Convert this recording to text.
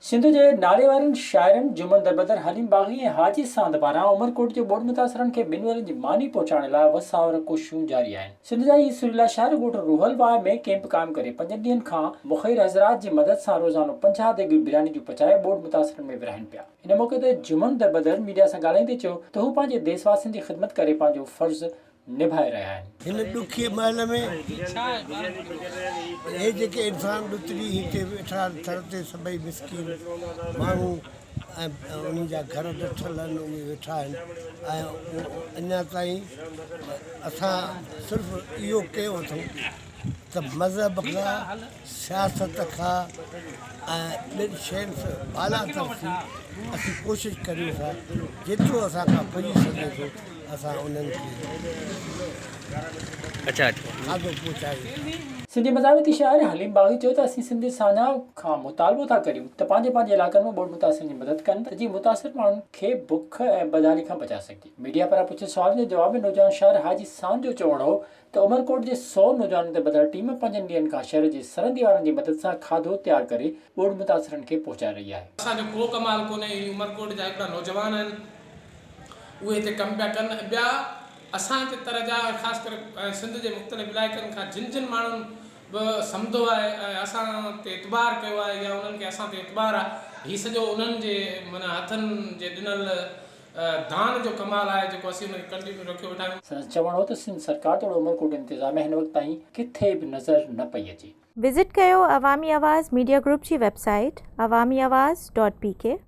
سنڌ جي ناليوارن شاعرن جمن دربدر، حليم باغي ۽ حاجي ساند پاران عمرڪوٽ جي ٻوڏ متاثرن کي ٻن ورهين جي ماني پهچائڻ لاء وساور ڪوششون جاري آهن. سنڌ جا هي سريلا شاعر ڳوٺ روحل واء ۾ ڪيمپ قائم ڪري پنجن ڏينهن کان مخير حضرات جي مدد سان روزانو پنجاهه ديڳ برياني جون پچائي ٻوڏ متاثرن ۾ ورهائين پيا. ان موقعي تي جمن دربدر ميڊيا سان ڳالهائيندي چيو ته هو پنهنجي ديس واسين جي خدمت ڪري پنهنجو فرض نڀائي رهيا آهن. هن ڏکي مهل ۾ اهي جيڪي انسان ڏتڙي هتي ويٺا آهن ٿر تي سڀئي مسڪين ماڻهو ۽ انهن جا گهر ڊٺل آهن ان ۾ ويٺا آهن ۽ اڃا تائين اسان صرف اهو ڪيو اٿئون ته مذهب کان سياست کان ۽ ٻين شين سان بالاتر ٿي اسين ڪوشش ڪريون ٿا جيترو اسان کان پڄي سگهي ٿو اسان انهن کي کاڌو پهچايون. سنڌي مزاحمتي شاعر حليم باغي چيو ته اسين سنڌ سانحه کان مطالبو ٿا ڪريون ته پنهنجي پنهنجي علائقن ۾ ٻوڏ متاثرن جي مدد ڪن ته جيئن متاثر ماڻهن کي بک ۽ بدحالي کان بچائي سگهجي ميڊيا پاران پڇيل سوالن جي جواب ۾ نوجوان شاعر حاجي سان جو چوڻ هو ته عمرڪوٽ جي سؤ نوجوانن تي ٻڌل ٽيم پنجن ڏينهن کان شهر جي سرندي وارن جي مدد سان کاڌو تيار ڪري ٻوڏ متاثرن کي پهچائي رهي آهي. اسان جو ڪو ڪمال ڪونهي هي عمرڪوٽ جا هڪڙا نوجوان آهن اهي هتي ڪم پيا ڪن ۽ ٻيا اسان جي تر جا ۽ خاص ڪري سنڌ جي مختلف علائقن کان جن جن ماڻهن به سمڌو آهي ۽ اسان تي اعتبار ڪيو آهي يا انهن کي اسان تي اعتبار آهي هي سڄو انهن جي معنيٰ هٿن جي ڏنل دان جو ڪمال آهي جيڪو اسين ان کي ڪنٽينيو رکيو ويٺا آهيون. سندس چوڻ هو ته سنڌ سرڪار توڙي عمرڪوٽ انتظاميه هن وقت تائين ڪٿي به نظر نه پئي اچي. وزٽ ڪيو عوامي آواز ميڊيا گروپ جي website Awami Awaz dot P ڪي.